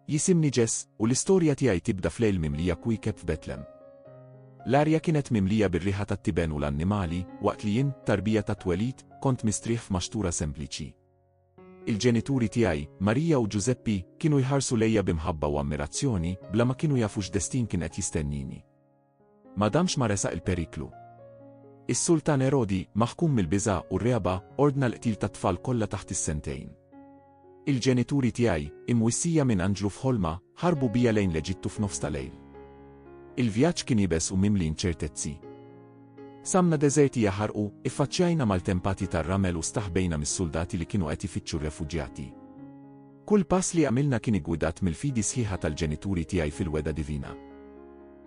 Jisimni Jess u l-istorja tiegħi tibda f'lejl mimlija kwiekeb f'Betlem. L-arja kienet mimlija bir-riħa tat-tiben u l-annimali, waqt li jien, tarbija tat-twelid, kont mistrieħ f'maxtura sempliċi. Il-ġenituri tiegħi, Marija u Ġużeppi, kienu jħarsu lejja bi mħabba u ammirazzjoni, bla ma kienu jafu x'destin kien qed jistennini. Ma damx ma resaq il-periklu. Is-Sultan Erodi, maħkum mill-biża' u r-regħba, ordna l-qtil tat-tfal kollha taħt is-sentejn. Il-ġenituri tiegħi, imwissija minn anġlu f'ħolma, ħarbu bija lejn l-Eġittu f'nofs ta' lejl. Il-vjaġġ kien iebes u mimli inċertezzi. Samna deżerti jaħarqu, iffaċċjajna maltempati tar-ramel u staħbejna mis-suldati li kienu qed ifittxu r-refuġjati. Kull pass li għamilna kien iggwidat mill-fidi sħiħa tal-ġenituri tiegħi fil-wegħda divina.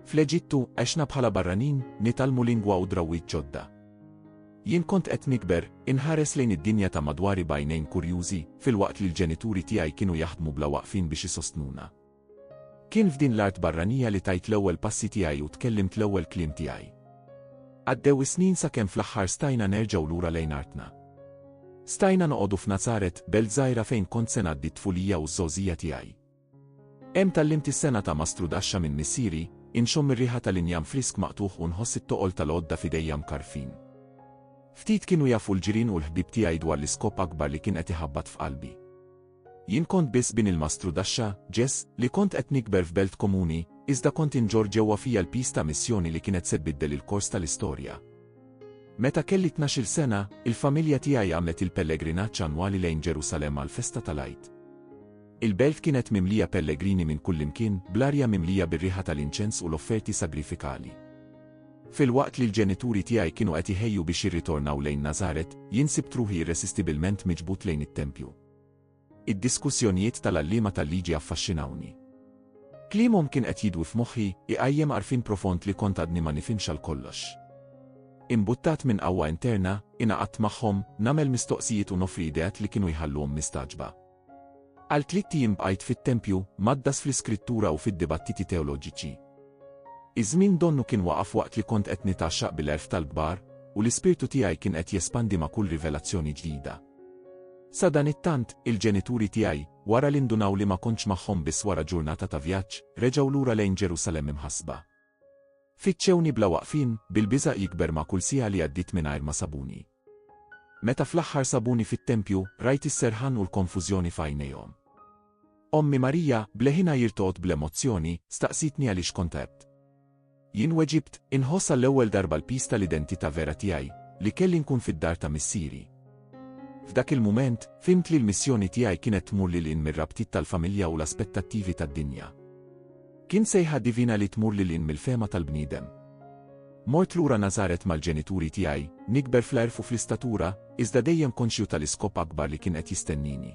Fl-Eġittu, għexna bħala barranin, nitgħallmu lingwa u drawwiet ġodda. Jien kont qed nikber, inħares lejn id-dinja ta' madwari b'għajnejn kurjużi, filwaqt li l-ġenituri tiegħi kienu jaħdmu bla waqfien biex isostnuna. Kien f'din l-art barranija li tajt l-ewwel passi tiegħi u tkellimt l-ewwel kliem tiegħi. Għaddew is-snin sakemm fl-aħħar stajna nerġgħu lura lejn artna. Stajna noqogħdu f'Nazaret, belt żgħira fejn kont se ngħaddi t-tfulija u ż-żgħożija tiegħi. Hemm tgħallimt is-sengħa ta' mastru daxxa minn missieri, inxomm ir-riħa tal-injam frisk maqtugħ u nħoss it-toqol tal-għodda f'idejja mkarrfin. Ftit kienu jafu l-ġirien u l-ħbieb tiegħi dwar l-iskop akbar li kien qed iħabbat f'qalbi. Jien kont biss bin il-mastrudaxxa, Jess, li kont qed nikber f'belt komuni, iżda kont inġorr ġewwa fija l-piż ta' missjoni li kienet se tbiddel il-kors tal-istorja. Meta kelli tnax-il sena, il-familja tiegħi għamlet il-pellegrinaġġ annwali lejn Ġerusalemm għall-festa tal-Għid. Il-belt kienet mimlija pellegrini minn kullimkien, bl-arja mimlija bir-riħa tal-inċens u l-offerti sagrifikali. Filwaqt li l-ġenituri tiegħi kienu qed iħejju biex jirritornaw lejn Nazaret, jien sibt ruħi irresistibilment miġbud lejn it-tempju. Id-diskussjonijiet tal-għalliema tal-liġi affaxxinawni. Kliemhom kien qed jidwi f'moħħi, iqajjem għarfien profond li kont għadni ma nifhimx għal kollox. Imbuttat minn qawwa interna, ingħaqadt magħhom, nagħmel mistoqsijiet u noffri ideat li kienu jħalluhom mistagħġba. Għal tlitt ijiem bqajt fit-tempju, mgħaddas fl-iskrittura u fid-dibattiti teoloġiċi. Iż-żmien donnu kien waqaf waqt li kont qed nitgħaxxaq bil-għerf tal-kbar, u l-ispirtu tiegħi kien qed jespandi ma' kull rivelazzjoni ġdida. Sadanittant, il-ġenituri tiegħi, wara li ndunaw li ma kontx magħhom biss wara ġurnata ta' vjaġġ, reġgħu lura lejn Ġerusalemm imħassba. Fittxewni bla waqfien, bil-biża' jikber ma' kull siegħa li għaddiet mingħajr ma sabuni. Meta fl-aħħar sabuni fit-tempju, rajt is-serħan u l-konfużjoni f'għajnejhom. Ommi Marija, b'leħinha jirtoqod bl-emozzjoni, staqsietni għaliex kont għebt. Jien weġibt, Inħoss għall-ewwel darba l-piż tal-identità vera tiegħi, li kelli nkun fid-dar ta' missieri. F'dak il-mument, fhimt li l-missjoni tiegħi kienet tmur lil hinn mir-rabtiet tal-familja u l-aspettattivi tad-dinja. Kien sejħa divina li tmur lil hinn mill-fehma tal-bniedem. Mort lura Nazaret mal-ġenituri tiegħi, nikber fl-għerf u fl-istatura, iżda dejjem konxju tal-iskop akbar li kien qed jistennini.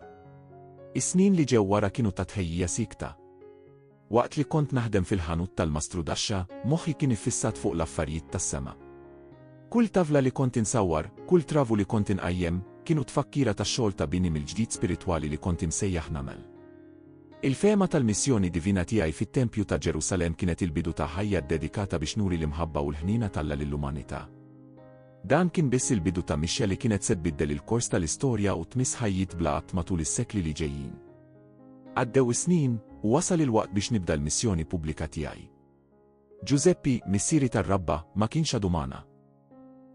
Is-snin li ġew wara kienu ta' tħejjija siekta. Waqt li kont naħdem fil-ħanut tal-mastru Dasha, moħħi kien iffissat fuq l-affarijiet tas-sema. Kull tavla li kont insawwar, kull travu li kont inqajjem, kienu tfakkira tax-xogħol ta' bini mill-ġdid spiritwali li kont imsejjaħ nagħmel. Il-fehma tal-missjoni divina tiegħi fit-tempju ta' Ġerusalemm kienet il-bidu ta' ħajja ddedikata biex nuri l-imħabba u l-ħniena t'Alla lill-umanità. Dan kien biss il-bidu ta' mixja li kienet se tbiddel il-kors tal-istorja u tmiss ħajjiet bla għadd matul is-sekli li ġejjin. Għaddew is-snin, u wasal il-waqt biex nibda l-missjoni pubblika tiegħi. Ġużeppi, missieri tar-rabba, ma kienx għadu magħna.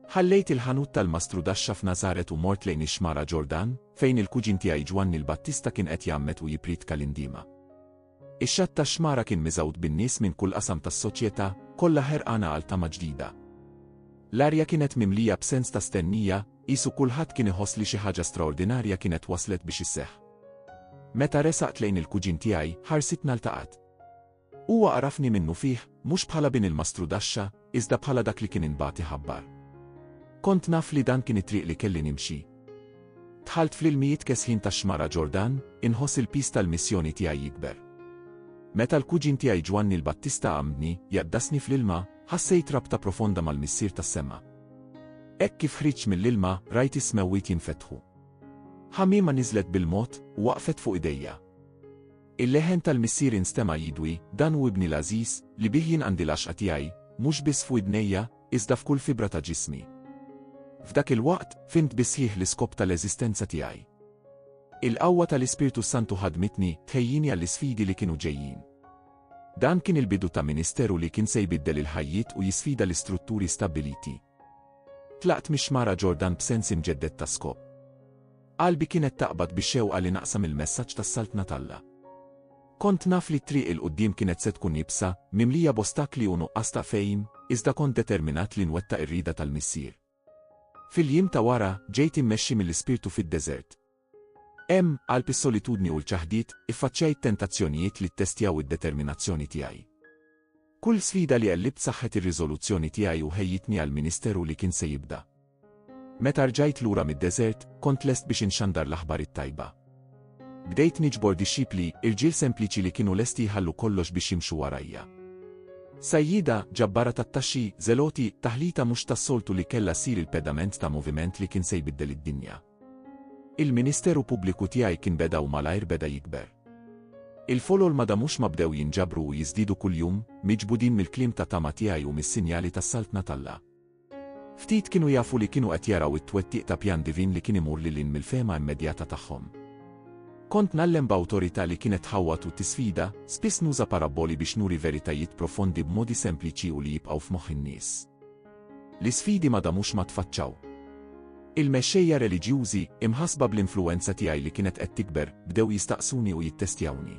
Ħallejt il-ħanut tal-mastrudaxxa f'Nażaret u mort lejn ix-Xmara Ġordan, fejn il-kuġin tiegħi Ġwanni l-Battista kien qed jgħammed u jippriedka l-indiema. Ix-xatt tax-xmara kien miżgħud bin-nies minn kull qasam tas-soċjetà, kollha ħerqana għal tama ġdida. L-arja kienet mimlija b'sens ta' stennija, Qisu kulħadd kien iħoss li xi ħaġa straordinarja kienet waslet biex isseħħ. Meta resaqt lejn il-kuġin tiegħi, ħarsitna ltaqgħet. Huwa għarafni minnufih, mhux bħala bin il-mastrudaxxa, iżda bħala dak li kien inbagħat iħabbar. Kont naf li dan kien it-triq li kelli nimxi. Dħalt fl-ilmijiet kesħin tax-xmara Ġordan, inħoss il-piż tal-missjoni tiegħi jikber. Meta l-kuġin tiegħi Ġwanni l-Battista għamdni, jaddasni fl-ilma, ħassejt rabta profonda mal-Missier tas-sema. Hekk kif ħriġt mill-ilma, rajt is-smewwiet jinfetħu. Ħamiema niżlet bil-mod u waqfet fuq idejja. Il-leħen tal-Missieri nstema' jidwi, Dan hu Ibni l-għażiż, li bih jien għandi l-għaxqa tiegħi, mhux biss f'widnejja, iżda f'kull fibra ta' ġismi. F'dak il-waqt, fhimt bis-sħiħ l-iskop tal-eżistenza tiegħi. Il-qawwa tal-Ispirtu s-Santu ħaddmitni, tħejjini għall-isfidi li kienu ġejjin. Dan kien il-bidu ta' ministeru li kien se jbiddel il-ħajjiet u jisfida l-istrutturi stabbiliti. Tlaqt mix-xmara Ġordan b'sens imġedded ta' skop. Qalbi kienet taqbad bix-xewqa li naqsam il-messaġġ tas-Saltna t'Alla. Kont naf li t-triq 'il quddiem kienet se tkun iebsa, mimlija b'ostakli u nuqqas ta' fehim, iżda kont determinat li nwettaq ir-rieda tal-Missier. Fil-jiem ta' wara, ġejt immexxi mill-Ispirtu fid-deżert. Hemm, qalb is-solitudni u l-ċaħdiet, iffaċċjajt tentazzjonijiet li ttestjaw id-determinazzjoni tiegħi. Kull sfida li għellibt saħħet ir-riżoluzzjoni tiegħi u ħejjitni għall-ministeru li kien se jibda. Meta rġajt lura mid-deżert, kont lest biex inxandar l-aħbar it-tajba. Bdejt niġbor dixxipli, irġiel sempliċi li kienu lesti jħallu kollox biex jimxu warajja. Sajjieda, ġabbara tat-taxxi, żeloti, taħlita mhux tas-soltu li kellha ssir il-pedament ta' moviment li kien se jbiddel id-dinja. Il-ministeru pubbliku tiegħi kien beda u malajr beda jikber. Il-folol ma damux ma bdew jinġabru u jiżdiedu kuljum, miġbudin mill-kliem ta' tama tiegħi u mis-sinjali tas-Saltna t'Alla. Ftit kienu jafu li kienu qed jaraw it-twettiq ta' pjan divin li kien imur lil hinn mill-fehma immedjata tagħhom. Kont ngħallem b'awtorità li kienet tħawwad u tisfida, spiss nuża parabboli biex nuri veritajiet profondi b'modi sempliċi u li jibqgħu f'moħħ in-nies. L-isfidi ma damux ma tfaċċaw. Il-mexxejja reliġjużi, imħassba bl-influwenza tiegħi li kienet qed tikber, bdew jistaqsuni u jittestjawni.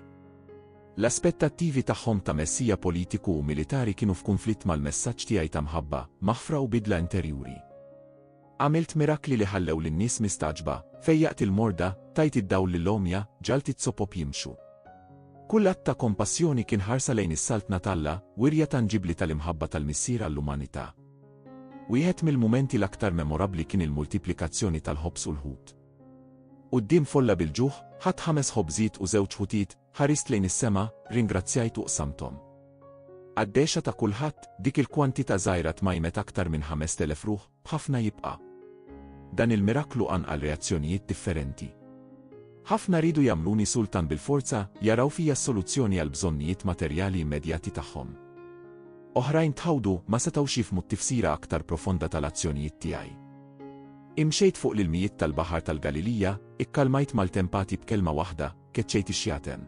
L-aspettattivi tagħhom ta' messija politiku u militari kienu f'kunflitt mal-messaġġ tiegħi ta' mħabba, maħfra u bidla interjuri. Għamilt mirakli li ħallew lin-nies mistagħġba, fejjaqt il-morda, tajt id-dawl lill-għomja, ġagħalt iz-zopop jimxu. Kull att ta' kompassjoni kien ħarsa lejn is-Saltna t'Alla, wirja tanġibbli tal-imħabba tal-Missier għall-umanità. Wieħed mill-mumenti l-aktar memorabbli kien il-multiplikazzjoni tal-ħobż u l-ħut. Quddiem folla bil-ġuħ, ħadt ħames ħobżiet u żewġ ħutiet, Ħarist lejn is-sema, ringrazzjajt u qsamthom. Għad-dehxa ta' kulħadd, dik il-kwantità żgħira tmajmet aktar minn ħamest elef ruħ, b'ħafna jibqa'. Dan il-miraklu qanqal reazzjonijiet differenti. Ħafna riedu jagħmluni sultan bil-forza, jaraw fija s-soluzzjoni għall-bżonnijiet materjali immedjati tagħhom. Oħrajn tħawdu ma setgħux jifhmu t-tifsira aktar profonda tal-azzjonijiet tiegħi. Imxejt fuq l-ilmijiet tal-Baħar tal-Galilija, ikkalmajt mal-tempati b'kelma waħda, keċċejt ix-xjaten.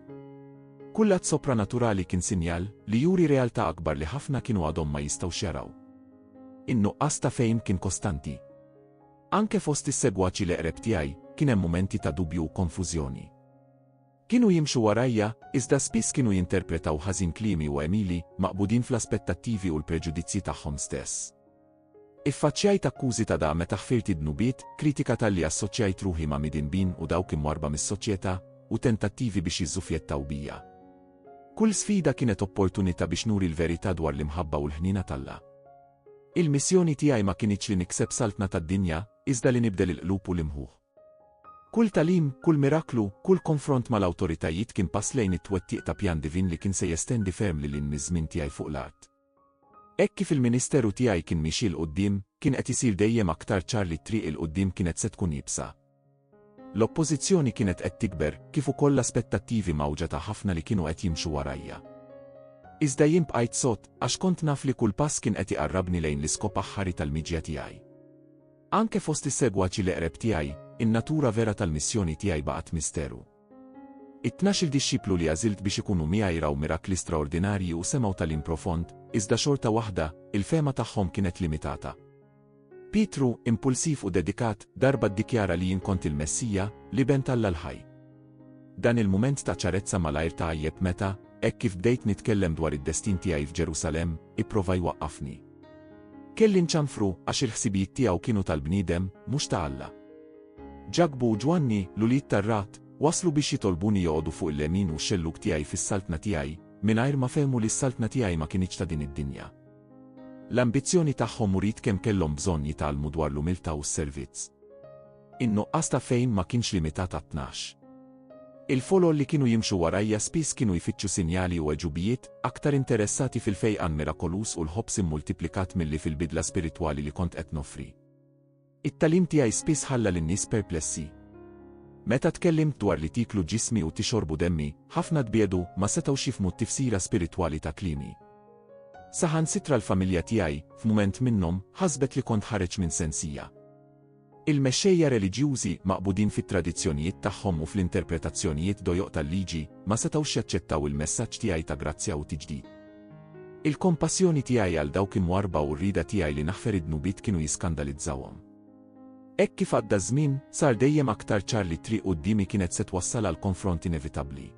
Kull att sopranaturali kien sinjal li juri realtà akbar li ħafna kienu għadhom ma jistgħux jaraw. In-nuqqas ta' fehim kien kostanti. Anke fost is-segwaċi l-eqreb tiegħi kien hemm mumenti ta' dubju u konfużjoni. Kienu jimxu warajja, iżda spiss kienu jinterpretaw ħażin kliemi u għemili, maqbudin fl-aspettattivi u l-preġudizzji tagħhom stess. Iffaċċjajt akkużi ta' da meta ħfirt id-dnubiet, kritika talli assoċjajt ruħi ma' midinbin u dawk imwarrba mis-soċjetà, u tentattivi biex jiżżufjettaw bija. Kull sfida kienet opportunità biex nuri l-verità dwar l-imħabba u l-ħniena t'Alla. Il-missjoni tiegħi ma kinitx li nikseb saltna tad-dinja, iżda li nibdel il-qlub u l-imħuħ. Kull tagħlim, kull miraklu, kull konfront mal-awtoritajiet kien pass lejn it-twettiq ta' pjan divin li kien se jestendi ferm lil hinn miż-żmien tiegħi fuq l-art. Hekk kif il-ministeru tiegħi kien miexi 'l quddiem, kien qed isir dejjem aktar ċar li t-triq 'il quddiem kienet se tkun iebsa. L-oppożizzjoni kienet qed tikber, kif ukoll l-aspettattivi mgħawġa ta' ħafna li kienu qed jimxu warajja. Iżda jien bqajt sod, għax kont naf li kull pass kien qed iqarrabni lejn l-iskop aħħari tal-miġja tiegħi. Anke fost is-segwaċi l-eqreb tiegħi, in-natura vera tal-missjoni tiegħi baqgħet misteru. It-tnax-il dixxiplu li għażilt biex ikunu miegħi raw mirakli straordinarji u semgħu tagħlim profond, iżda xorta waħda, il-fehma tagħhom kienet limitata. Pietru, impulsiv u dedikat, darba ddikjara li jien kont il-Messija, l-Iben t'Alla l-ħaj. Dan il-mument ta' ċarezza malajr tgħajjeb meta, hekk kif bdejt nitkellem dwar id-destin tiegħi f'Ġerusalemm, ipprova jwaqqafni. Kelli nċanfru għax il-ħsibijiet tiegħu kienu tal-bniedem, mhux ta' Alla. Ġakbu u Ġwanni, l-ulied tar-rat, waslu biex jitolbuni joqogħdu fuq il-lemin u x-xellug tiegħi fis-saltna tiegħi, mingħajr ma fehmu li s-saltna tiegħi ma kinitx ta' din id-dinja. L-ambizzjoni tagħhom uriet kemm kellhom bżonn jitgħallmu dwar l-umiltà u s-servizz. In-nuqqas ta' fehim ma kienx limitat għat-tnax. Il-folol li kienu jimxu warajja spiss kienu jfittxu sinjali u għeġubijiet, aktar interessati fil-fejqan mirakoluż u l-ħobż immultiplikat milli fil-bidla spiritwali li kont qed noffri. It-tagħlim tiegħi spiss ħalla lin-nies perplessi. Meta tkellimt dwar li tieklu ġismi u tixorbu demmi, ħafna tbiegħdu, ma setgħux jifhmu t-tifsira spiritwali ta' kliemi. Saħansitra l-familja tiegħi, f'mument minnhom, ħasbet li kont ħareġ minn sensija. Il-mexxejja reliġjużi, maqbudin fit-tradizzjonijiet tagħhom u fl-interpretazzjonijiet dojoq tal-Liġi, ma setgħux jaċċettaw il-messaġġ tiegħi ta' grazzja u tiġdid. Il-kompassjoni tiegħi għal dawk imwarrba u r-rieda tiegħi li naħfer id-dnubiet kienu jiskandalizzawhom. Hekk kif għadda ż-żmien, sar dejjem aktar ċar li t-triq quddiemi kienet se twassal għal konfront inevitabbli.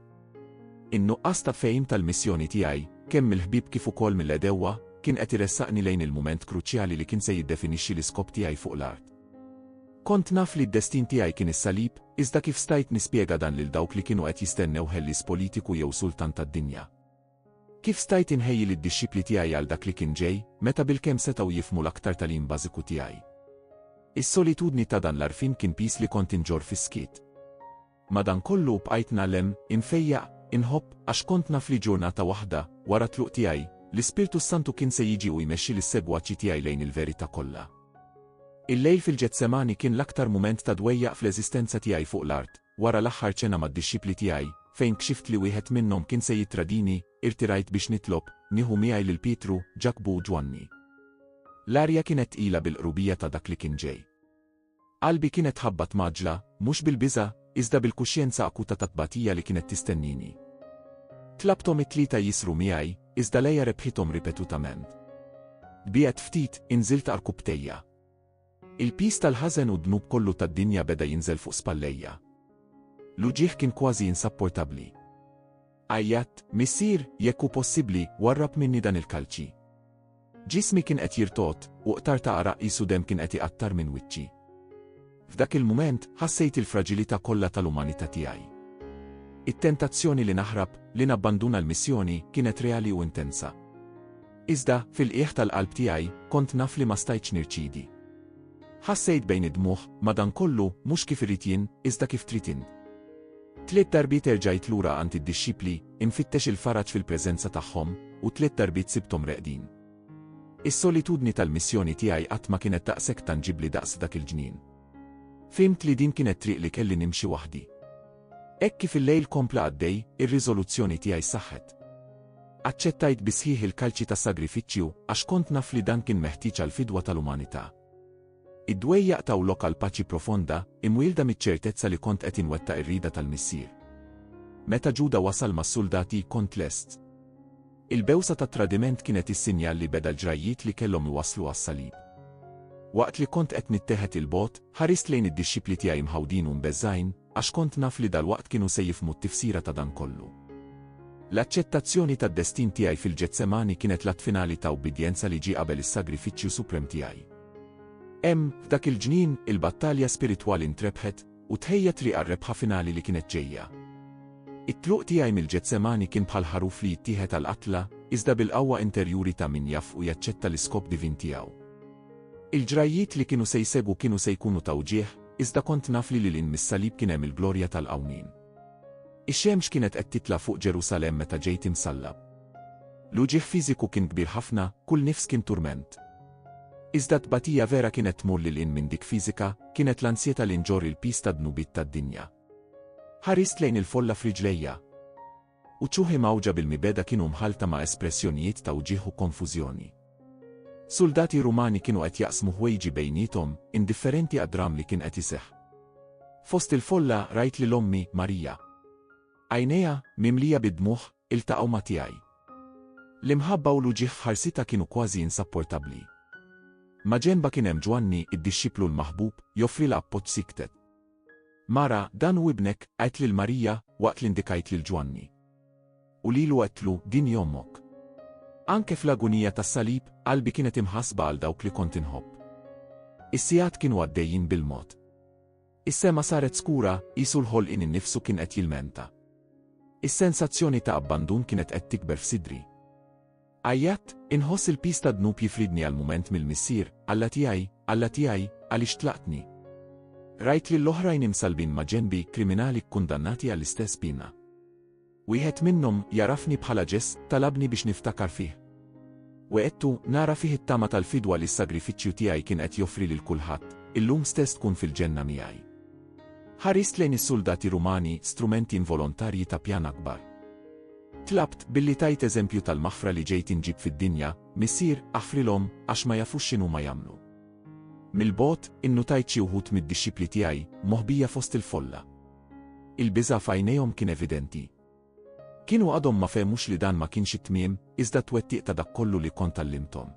In-nuqqas ta' fehim tal-missjoni tiegħi, kemm mill-ħbieb kif ukoll mill-għedewwa, kien qed iressaqni lejn il-mument kruċjali li kien se jiddefinixxi l-iskop tiegħi fuq l-art. Kont naf li d-destin tiegħi kien is-salib, iżda kif stajt nispjega dan lil dawk li kienu qed jistennew ħellies politiku jew sultan tad-dinja? Kif stajt inħejji lid-dixxipli tiegħi għal dak li kien ġej, meta bilkemm setgħu jifhmu l-aktar tagħlim bażiku tiegħi? Is-solitudni ta' dan l-għarfien kien piż li kont inġorr fis-skiet. Madankollu u bqajt ngħallem, infejjaq, inħobb, għax kont naf li ġurnata waħda, wara t-tluq tiegħi, l-Ispirtu s-Santu kien se jiġi u jmexxi lis-segwaċi tiegħi lejn il-verità kollha. Il-lejl fil-Ġetsemani kien l-aktar mument ta' dwejjaq fl-eżistenza tiegħi fuq l-art, wara l-aħħar ċena mad-dixxipli tiegħi, fejn kxift li wieħed minnhom kien se jittradini, irtirajt biex nitlob, nieħu miegħi lil Pietru, Ġakbu u Ġwanni. L-arja kienet tqila bil-qrubija ta' dak li kien ġej. Qalbi kienet tħabbat mgħaġġla, mhux bil-biża', iżda bil-kuxjenza akuta tat-tbatija li kienet tistennini. Tlabthom it-tlieta jisru miegħi, iżda Leia rebħithom ripetutament. Biegħed ftit, inżilt għarkupptejja. Il-piż tal-ħażen u d-dnub kollu tad-dinja beda jinżel fuq spallejja. L-uġigħ kien kważi insapportabbli. Għajjatt, Missier, jekk hu possibbli, warrab minni dan il-kalċi. Ġismi kien qed jirtogħod, u qtar ta' għaraq qisu demm kien qed iqattar minn wiċċi. F'dak il-mument, ħassejt il-fraġilità kollha tal-umanità tiegħi. It-tentazzjoni li naħrab, li nabbanduna l-missjoni, kienet reali u intensa. Iżda, fil-qiegħ tal-qalb tiegħi, kont naf li ma stajtx nirċidi. Ħassejt bejn id-dmugħ, madankollu, mhux kif irid jien, iżda kif trid int. Tliet darbiet erġajt lura għand id-dixxipli, infittex il-faraġ fil-preżenza tagħhom, u tliet darbiet sibthom reqdin. Is-solitudni tal-missjoni tiegħi qatt ma kienet daqshekk tanġibbli daqs dak il-ġnien. Fhimt li din kienet triq li kelli nimxi waħdi. Hekk kif il-lejl kompla għaddej, ir-riżoluzzjoni tiegħi saħħet. Aċċettajt bi sħiħ il-kalċi ta' sagrifiċċju għax kont naf li dan kien meħtieġ għall-fidwa tal-umanità. Id-dwejjaq taw lok għal paċi profonda, imwielda miċ-ċertezza li kont qed inwettaq ir-rieda tal-Missier. Meta Ġuda wasal mas-suldati, kont lest. Il-bewsa tat-tradiment kienet is-sinjal li beda l-ġrajjiet li kellhom iwasslu għas-salib. Waqt li kont qed nitteħed 'il bogħod, ħarist lejn id-dixxipli tiegħi mħawdin u mbeżżgħin, Għax kont naf li dalwaqt kienu se jifhmu t-tifsira ta' dan kollu. L-aċċettazzjoni tad-destin tiegħi fil-Ġetsemani kienet l-att finali ta' ubbidjenza li ġie qabel is-sagrifiċċju suprem tiegħi. Hemm, f'dak il-ġnien, il-battalja spiritwali ntrebħet, u tħejja triq għar-rebħa finali li kienet ġejja. It-tluq tiegħi mill-Ġetsemani kien bħal ħaruf li jittieħed għall-qatla, iżda bil-qawwa interjuri ta' min jaf u jaċċetta l-iskop divin tiegħu. Il-ġrajjiet li kienu se jsegwu kienu se jkunu ta' wġigħ, Iżda kont naf li lil hinn mis-salib kien hemm il-glorja tal-qawmien. Ix-xemx kienet qed titla' fuq Ġerusalemm meta ġejt imsallab. L-uġigħ fiżiku kien kbir ħafna, kull nifs kien turment. Iżda t-tbatija vera kienet tmur lil hinn minn dik fiżika, kienet l-ansjetà li nġorr il-piż tad-dnubiet tad-dinja. Ħarist lejn il-folla f'riġlejja. Uċuħi mgħawġa bil-mibegħda kienu mħallta ma' espressjonijiet ta' wġigħ u konfużjoni. Suldati Rumani kienu qed jaqsmu ħwejġi bejniethom, indifferenti għad-dramm li kien qed iseħħ. Fost il-folla, rajt lil ommi, Marija. Għajnejha, mimlija bid-dmugħ, iltaqgħu ma' tiegħi. L-imħabba u l-uġigħ f'ħarsitha kienu kważi insapportabbli. Maġenba kien hemm Ġwanni, id-dixxiplu l-maħbub, joffrilha appoġġ siktet. Mara, dan hu ibnek, għidt lil Marija, waqt li ndikajt lil Ġwanni. U lilu għedtlu, din hi ommok. Anke fl-agunija tas-salib, qalbi kienet imħassba għal dawk li kont inħobb. Is-sigħat kienu għaddejjin bil-mod. Is-sema saret skura, qisu l-ħolqien innifsu kien qed jilmenta. Is-sensazzjoni ta' abbandun kienet qed tikber f'sidri. Għajjatt, inħoss il-piż tad-dnub jifridni għal mument mill-Missier, Alla tiegħi, Alla tiegħi, għaliex tlaqtni? Rajt lill-oħrajn imsallbin ma' ġenbi, kriminali kkundannati għall-istess piena. Wieħed minnhom, jagħrafni bħala Ġess, talabni biex niftakar fih. Wegħedtu, nara fih it-tama tal-fidwa li s-sagrifiċċju tiegħi kien qed joffri lil kulħadd, illum stess tkun fil-ġenna miegħi. Ħarist lejn is-suldati Rumani, strumenti involontarji ta' pjan akbar. Tlabt, billi tajt eżempju tal-maħfra li ġejt inġib fid-dinja, Missier, aħfrilhom, għax ma jafux x'inhuma jagħmlu. Mill-bogħod, innutajt xi wħud mid-dixxipli tiegħi, moħbija fost il-folla. Il-biża' f'għajnejhom kien evidenti. Kienu għadhom ma fehmux li dan ma kienx it-tmiem, iżda t-twettiq ta' dak kollu li kont għallimthom.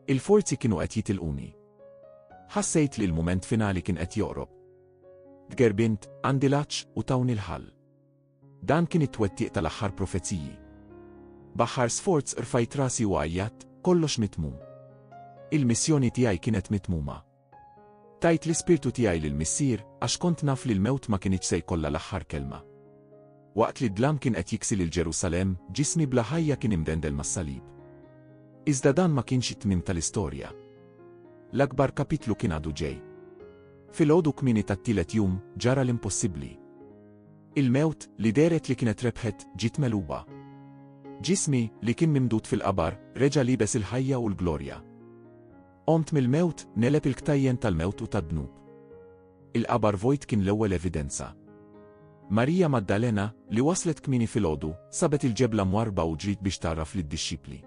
Il-forzi kienu qed jitilquni. Ħassejt li l-mument finali kien qed joqrob. Tgerbint, għandi l-għatx, u tawni l-ħall. Dan kien it-twettiq tal-aħħar profeziji. B'aħħar sforz rfajt rasi u għajjatt, kollox mitmum. Il-missjoni tiegħi kienet mitmuma. Tajt l-ispirtu tiegħi lill-Missier għax kont naf li l-mewt ma kinitx se jkollha l-aħħar kelma. Waqt li d-dlam kien qed jiksi lil Ġerusalemm, ġismi bla ħajja kien imdendel mas-salib. Iżda dan ma kienx it-tmiem tal-istorja. L-akbar kapitlu kien għadu ġej. Fil-għodu kmini tat-tielet jum ġara l-impossibbli. Il-mewt, li dehret li kienet rebħet, ġiet megħluba. Ġismi, li kien mimdud fil-qabar, reġa' liebes il-ħajja u l-glorja. Qomt mill-mewt, negħleb il-ktajjen tal-mewt u tad-dnub. Il-qabar vojt kien l-ewwel evidenza. Marija Maddalena, li waslet kmieni filgħodu, sabet il-ġebla mwarrba u ġriet biex tgħarraf lid-dixxipli.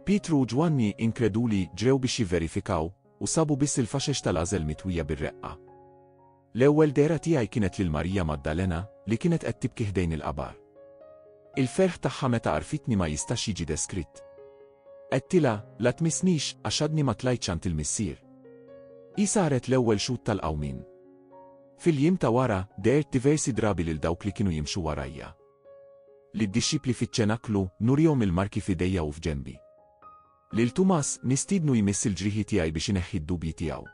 Pietru u Ġwanni, inkreduli, ġrew biex jivverifikaw, u sabu biss il-faxex tal-għażel mitwija bir-reqqa. L-ewwel dehra tiegħi kienet lil Marija Maddalena li kienet qed tibki ħdejn il-qabar. Il-ferħ tagħha meta għarfitni ma jistax jiġi deskritt. Għedtilha, la tmissnix, għax għadni ma tlajtx għand il-Missier. Hi saret l-ewwel xhud tal-qawmien. Fil-jiem ta' wara, dehert diversi drabi lil dawk li kienu jimxu warajja. Lid-dixxipli fiċ-ċenaklu, nurihom il-marki f'idejja u f'ġenbi. Lil Tumas nistiednu jmiss il-ġrieħi tiegħi biex ineħħi d-dubji tiegħu.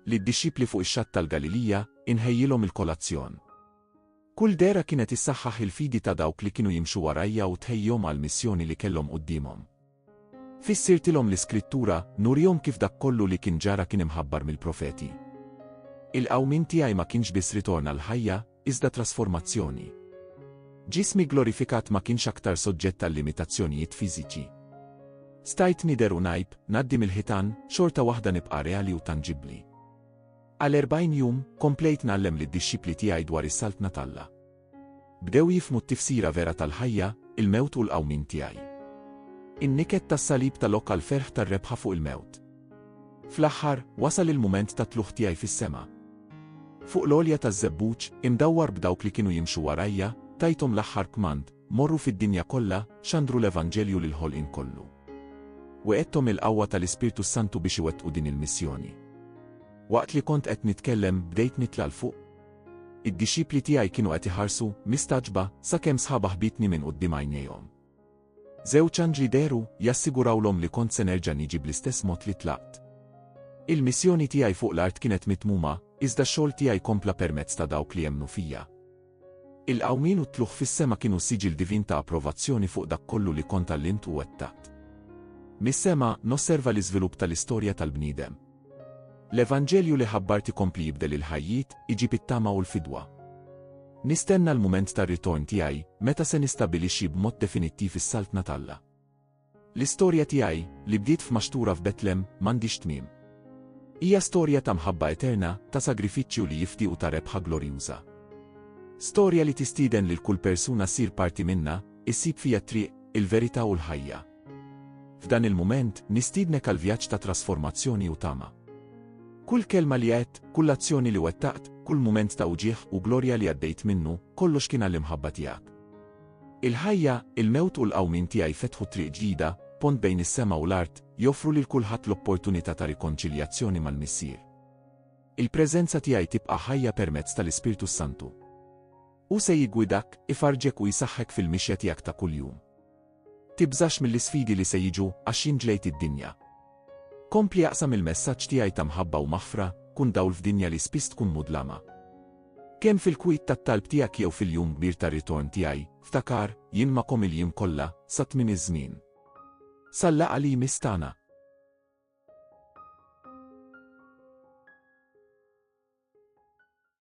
Lid-dixxipli fuq ix-xatt tal-Galilija, inħejjilhom il-kolazzjon. Kull dehra kienet issaħħaħ il-fidi ta' dawk li kienu jimxu warajja u tħejjihom għall-missjoni li kellhom quddiemhom. Fissirtilhom l-Iskrittura, nurihom kif dak kollu li kien ġara kien imħabbar mill-profeti. Il-qawmien tiegħi ma kienx biss ritorn għall-ħajja, iżda trasformazzjoni. Ġismi glorifikat ma kienx aktar soġġett għal limitazzjonijiet fiżiċi. Stajt nider u najb, naddi mill-ħitan, xorta waħda nibqa' reali u tanġibbli. Għal 40 jum, komplejt nallem lid dixxipli tiegħi dwar is-saltna talla. Bdew jifmu t-tifsira vera tal-ħajja, il-mewt u l-qawmin tiegħi. In-niket tas-salib tal-ok għal ferħ tar-rebħa fuq il-mewt. Fl-aħħar, wasal il-mument tat-tlugħ tiegħi fis-sema. Fuq l-għolja taż-żebbuġ, imdawwar b'dawk li kienu jimxu warajja, tajthom l-aħħar kmand, Morru fid-dinja kollha, xandru l-evanġelju lill-ħolqien kollu. Wegħedthom il-qawwa tal-Ispirtu s-Santu biex iwettqu din il-missjoni. Waqt li kont qed nitkellem, bdejt nitla' 'l fuq. Id-dixxipli tiegħi kienu qed iħarsu, mistagħġba, sakemm sħaba ħbitni minn quddiem għajnejhom. Żewġ anġli dehru, jassigurawlhom li kont se nerġa' niġi bl-istess mod li tlaqt. Il-missjoni tiegħi fuq l-art kienet mitmuma, iżda x-xogħol tiegħi kompla permezz ta' dawk li emmnu fija. Il-qawmien u t-tlugħ fis-sema kienu siġill divin ta' approvazzjoni fuq dak kollu li kont għallimt u wettaqt. Mis-sema, nosserva l-iżvilupp tal-istorja tal-bniedem. L-Evanġelju li ħabbart ikompli jibdel il-ħajjiet, iġib it-tama u l-fidwa. Nistenna l-mument tar-ritorn tiegħi, meta se nistabilixxi b'mod definittiv is-Saltna t'Alla. L-istorja tiegħi, li bdiet f'maxtura f'Betlem, m'għandhiex tmiem. Hija storja ta' mħabba eterna, ta' sagrifiċċju li jifdi u ta' rebħa glorjuża. Storja li tistieden lil kull persuna ssir parti minnha, issib fija t-triq, il-verità u l-ħajja. F'dan il-mument, nistiednek għal vjaġġ ta' trasformazzjoni u tama. Kull kelma li għedt, kull azzjoni li wettaqt, kull mument ta' uġigħ u glorja li għaddejt minnu, kollox kien għall-imħabba tiegħek. Il-ħajja, il-mewt u l-qawmien tiegħi fetħu triq ġdida, pont bejn is-sema u l-art, joffru lil kulħadd l-opportunità ta' rikonċiljazzjoni mal-Missier. Il-preżenza tiegħi tibqa' ħajja permezz tal-Ispirtu s-Santu. Hu se jiggwidak, ifarrġek u jsaħħek fil-mixja tiegħek ta' kuljum. Tibżax mill-isfidi li se jiġu għax jien ġlejt id-dinja. Kompli aqsam il-messaġġ tiegħi ta' mħabba u maħfra, kun dawl f'dinja li spiss tkun mudlama. Kemm fil-kwiet tat-talb tiegħek jew fil-jum kbir tar-ritorn tiegħi, ftakar, jien magħkom il-jiem kollha, sa tmiem iż-żmien. Sal-laqgħa li jmiss tagħna.